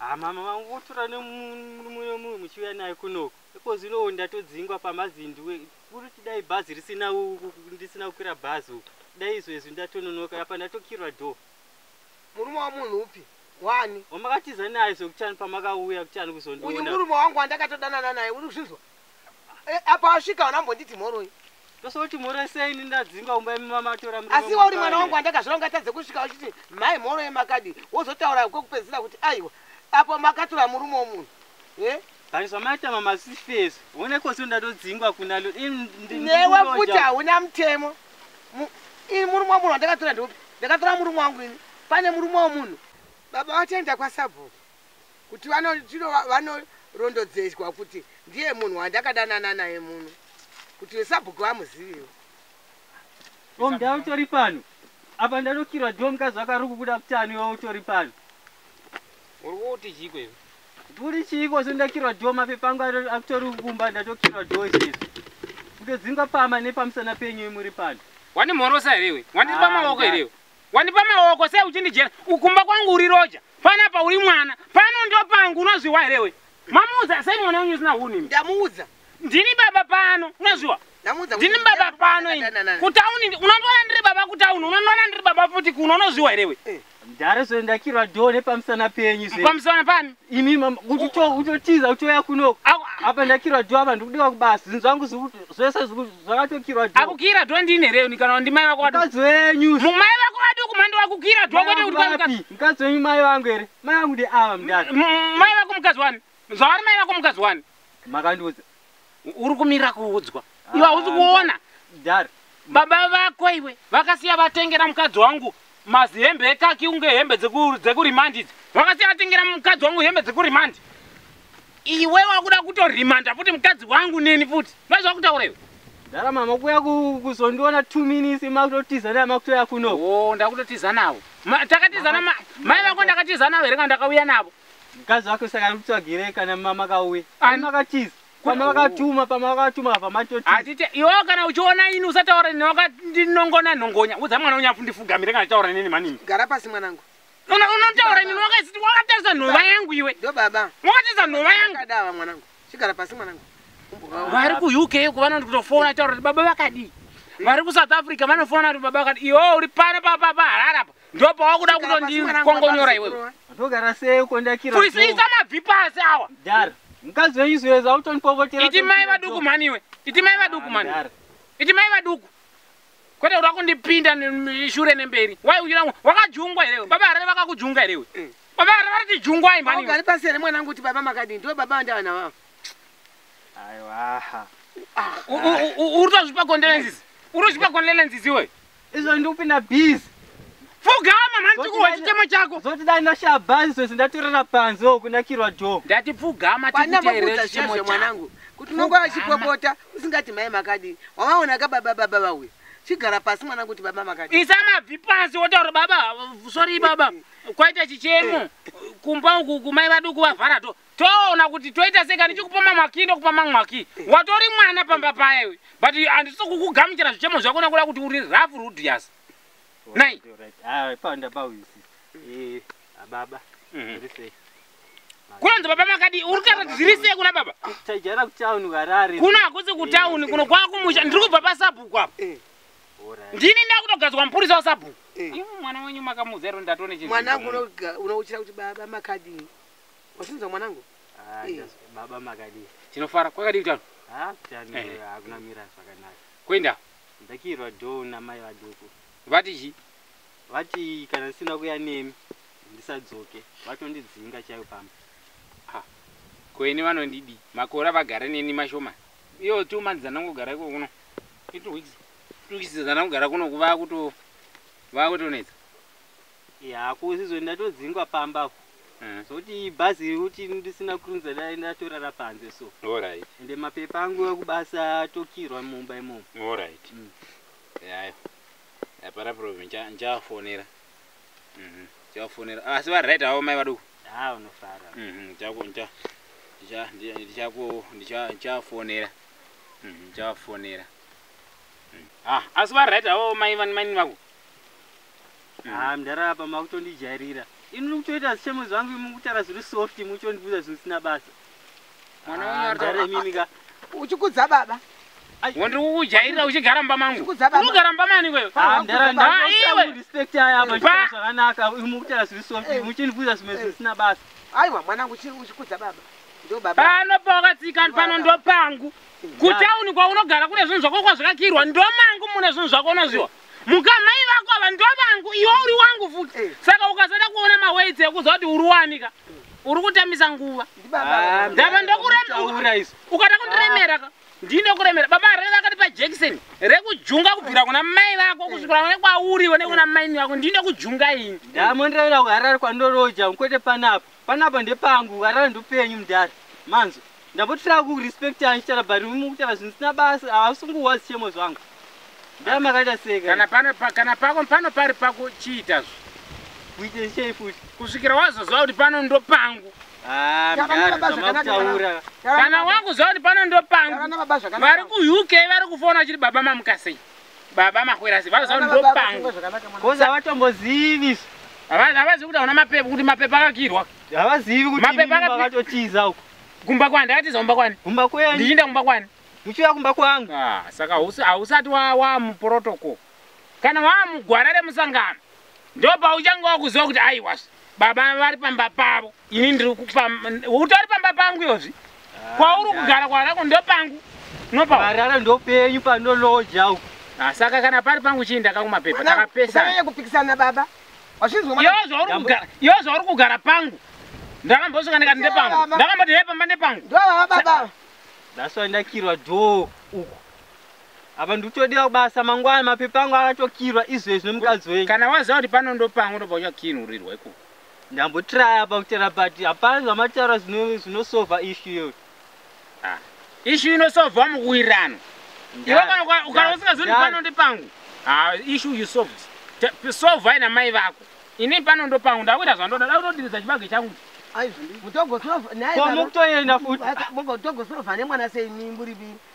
Ah, mama vangu votora nemumwe nomunhu muchiuya naye kunoko ikozvino ndatodzingwa pamazindu kuri tidai bhazi risina ndisina kukwira bhazi uku dai izvo izvi ndatononoka apa ndatokirwa do murume wamunhu upi wani wamakatiza naye zvokuchani pamakauya kuchani kuzondiona murume wangu wandakatodanana naye uri kuzvinzwa Eh, apa asvika hauna mbonditi mhoroi ndosoti mhoroi sei ini ndadzinga umba imi mama atora mrume asi iwe uri mwana wangu wandakazvira ungatadze kusvika uchiti mhai mhoroi makadi wozotaura kwekupedzisira kuti aiwa apo makatora murume womunhu e but zvamaita mama sifesi one kosi ndatodzingwa kuna lo ini ndi- newe ndikuroja. futi hauna mutemo Mu- ini murume womunhu wandakatora ndeupi ndakatora murume wangu ini pane murume womunhu baba vachaenda kwasabhuku kuti vanorondedzeswa kuti ndiye munhu wandakadanana naye muno kuti vesabhuku vamuzivewo omda utori pano apa ndanokirwa ndiwo mukazi wako ari kukuda kuti ani iwe utori pano uri kuti chiiko iwe nduri chiiko so ndakirwa ndiwo mapepa angu akutori kumba ndatokirwa ndiwo izvezvi kutodzinga pama nepamusana penyu imuri pano wandimhorosa here iwe wandipa ah, maoko here iwe wandipa maoko sei uchindijera ukumba kwangu uri roja panapa uri mwana pano ndo pangu unozviwa here we mamuudza sei mwana wenyu usina hunhu ndamuudza ndini baba pano unozviwa ndini baba pano ini kutauni unondiona ndiri baba kutauni unondiona ndiri baba futi kuno unozviwa here we eh. ndare zve ndakirwa do nepamusana penyu zve pamusana pani imi mama utotiza utoya kuno apa ndakirwa dho apa ndikudiwa kubasa zvinhu zvangu zvese zvakatokirwa dho akukira dho ndini here ni kana ndimai vako mukadzi wenyu mumai vako vaduku mandi vakukira dho kwete kuti mukadzi wenyu mai vangu here mai vangu ndi ava mudaka mai vako mukadzi wani zvavari mai vako mukadzi wani makandiudza uri kumirira kuudzwa iwe hausi ah, kuona dar baba vako iwe vakasiya vatengera mukadzi wangu mazihembe ekaki unge hembe dzekurimandi idzi vakasiya vatengera mukadzi wangu hembe dzekurimandi iwe wakuda kutorimanda futi mukadzi wangu neni futi vaizva kutaura iwe dara mama kuya kuzondiona two minutes makutotiza nayo makutoya kuno o oh, ndakutotiza navo takatizana mai vako ndakatiza navo here kandakauya navo Mkazi wake saka ari kutsvagirei kana mama kauye. Ani makatiza. Pama vakatuma, pama vakatuma apa matoti. Atite iwe kana uchiona ini usataura nini wakandinongona nongonya. Udza mwana wangu afundifugamire kana taura nini manini. Gara pasi mwanangu. Una unotaura nini wakasiti wakatarisa nhova yangu iwe. Ndo baba. Wakatarisa nhova yangu. Kadava mwanangu. Chigara pasi mwanangu. Vari ku UK uko vanoti kutofona taura kuti baba vakadii. Vari ku South Africa vanofona kuti baba vakadii. Iwe uri pano papa papa harara apa. ndopa wakuda kutondikongonyora iwewe ndogara sei kondakira furisisa mabvi pasi awa dar mukadzi wenyu zoyeza autonipopotera iti mai vaduku mhani iwe iti mai vaduku mhani iti mai vaduku kwete uri wakundipinda shure nemberi wai uchira wakajungwa here baba harare vakakujunga here iwe eh. baba harare vari tijungwai mhani ugari pasi here mwanangu kuti baba makadini ndivo baba vandavana vavo aiwaha ah, uri tozvipa kondelenzizi uri tozvipa kondelenzizi iweyo izvo ndikupinda busy pfugama mani tikuwa chitema chako zoti dai ndashaya bhazi zvese ndatorera panze wo kunakirwa jo ndati pfugama tikuteerera chitemo chako mwanangu kuti unongo achipopota usingati mai makadii wamaona ka baba baba vauya chigara pasi mwana kuti baba makati isa mabvi pasi wotaura baba sorry baba kwaita chichemo kumba uku kumai vaduku vavhara to toona kuti toita sei kani chikupa mamwaki ndokupa mamwaki watori mwana pamba paya we but handisi kukugamuchira zvichemo zvako nakuda kuti uri rough rudius nai kunonzi baba makadii uri kutaura kuti zviri sei kuna baba kuno hakusi kutauni kuno kwakumusha ndiri kubva pasabhuku apo eh. ndini ndakutogadzwa mupurisa wasabhuku eh. mwana wenyu makamuzairo ndatone chimwana unouchira kuti baba makadii Wachinzwa mwanangu? Ah, eh. just, baba makadii? Tinofara kwakadii kutano? Ah, kutano eh. eh. hakuna mira zvakanaka. Kwenda? Ndakirwa do namai vaduku. Vati chi? Vati kana ndisina kuya nemi ndisadzoke. Vatondidzinga chaiyo pamba. Ah. Ko ini vanondidi. Makora vagara neni mashoma. Iyo two months dzanongogara iko kuno. Two weeks. Two weeks dzanongogara kuno kuva kuto vakutonetsa. Yako usizoni ndatodzingwa pamba apo. Mm. Zoti bhazi uti ndisina kurunza dai ndatorara panze so. All right. Ende mapepa angu ekubasa atokirwa mumba imomo. All right. Mm. Yayo. Hapana problem nja njafonera. Mhm. Njafonera. Ah, so right awo mai vaduku. Ah, unofara. Mhm. Njaku nja. Nja ndichaku ndicha njafonera. Mhm. Njafonera. Mm. Ah, asi va right awo mai vani mai vaku. haa mdara apa makutondijairira ini muri kutoita zvichemo zvangu imi mukutaura zviri soft imi uchondibuza zvinhu zvisina basa mdara imimi ka uchikudza baba wandiri kukujairira uchigara mumba mangu unogara mumba mani kwewe zvakanaka imi mukutaura zviri soft imi uchondibuza zvimwe zvinhu zvisina basa aiwa mwanangu uchikudza baba pano pawakatsika pano ndopangu kutauni kwaunogara kune zvinhu zvako kwazvakakirwa ndomangu mune zvinhu zvako unozviwa Muka mai vako ava ndovangu iwe uri wangu futi. Eh. Saka ukasada kuona mawedzi ekuziva kuti uri wanika. Uri kutambisa nguva. Ah, Ndava ndokuremera. Ukada kundiremera ka. Ndine kuremera. Baba rega akati pa Jackson. Rekujunga kubvira kuna mai vako eh. kusvikira kune kwauri one kuna mai vako. Ndine kujunga ini. Ndamondira kuHarare kwandoroja kwete panapa. Panapa ndepangu warara ndopenyu mdhara manzo ndambotira kurespect yangu chitara but mukutara zvinhu sina basa hausunguwa zvichemo zvangu ndara makaita sei kana pano pa, kana pako pano pari pako chiita zvo kuite sei futi kusvikira wazoziva kuti pano ndopangu ah, kana wakuziva kuti pano ndopangu vari kuuk vari kufona chiri baba mamukasei baba mahwera ziva zao ndopangu kozi havatombozivi isu havazivi kuti hauna mapepa kuti mapepa akakirwa havazivi kuti mapepa akatotiza uko kumba kwani ndakatiza kumba kwani kumba kwenyu ndichiinda kumba kwani muchiuya kumba kwangu ah, saka hausati wamuprotocol kana waamugwara remusangano ndopauchanga wakuziva kuti aiwas baba vari pamba pavo ini ndiri utori pamba pangu yozvi kwauri kugara kwarako ndopangu nopaarara ndopenyu panoloja uku ah, saka kana pari pangu chii ndakakumapepa takapesana kupikisana baba yo zvauri kugara pangu ndakambosuka ndikati ndepangu ndakamboti he pamba nepangu ndaswa ndakirwa dho uku apa ndikutodiwa kubasa mangwana mapepa angu akatokirwa izvezvi nemukadzi wenyu kana waziva kuti pano ndopangu ndobva uchakinurirwa ikoko ndambotraya apa kutera but hapana zvamataura zvinosova ishu iyo ah. ishu inosova mukuwirirano iwe kana ukana usingazondi pano ndi pangu ah, ishu you solved sova ina mai vako ini pano ndo pangu ndakuita zvandoda dakutodirisa chibage changu mutogosovanemwana sei mi muri vii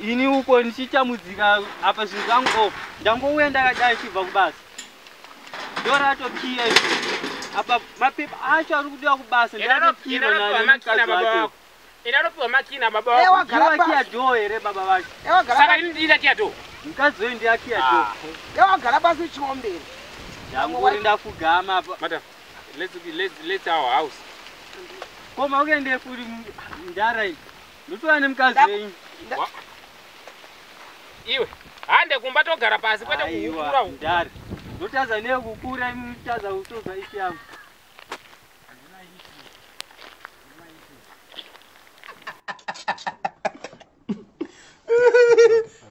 ini uko ndichitambudzika apa zvinhu zvangu o oh, ndangouya ndakadai chibva kubasa ndoratokiya apa mapepa acho ari kudiwa kubasa ndaaopiwa makina babawakiya doo here baba vacho saka ini ndiita kiya doo mukadzi weyu ndiakiya doo ah. ewagara pasi uchiomberi ndanguri ndafugama apa madam let's, let's, let's our house koma ukende kuri ndara Ndotora nemukadzi wenyu. Iwe hande kumba togara pasi kwete kukura uku. Ndari. Ndotadza newe kukura imi mutadza kutonza ifi yangu.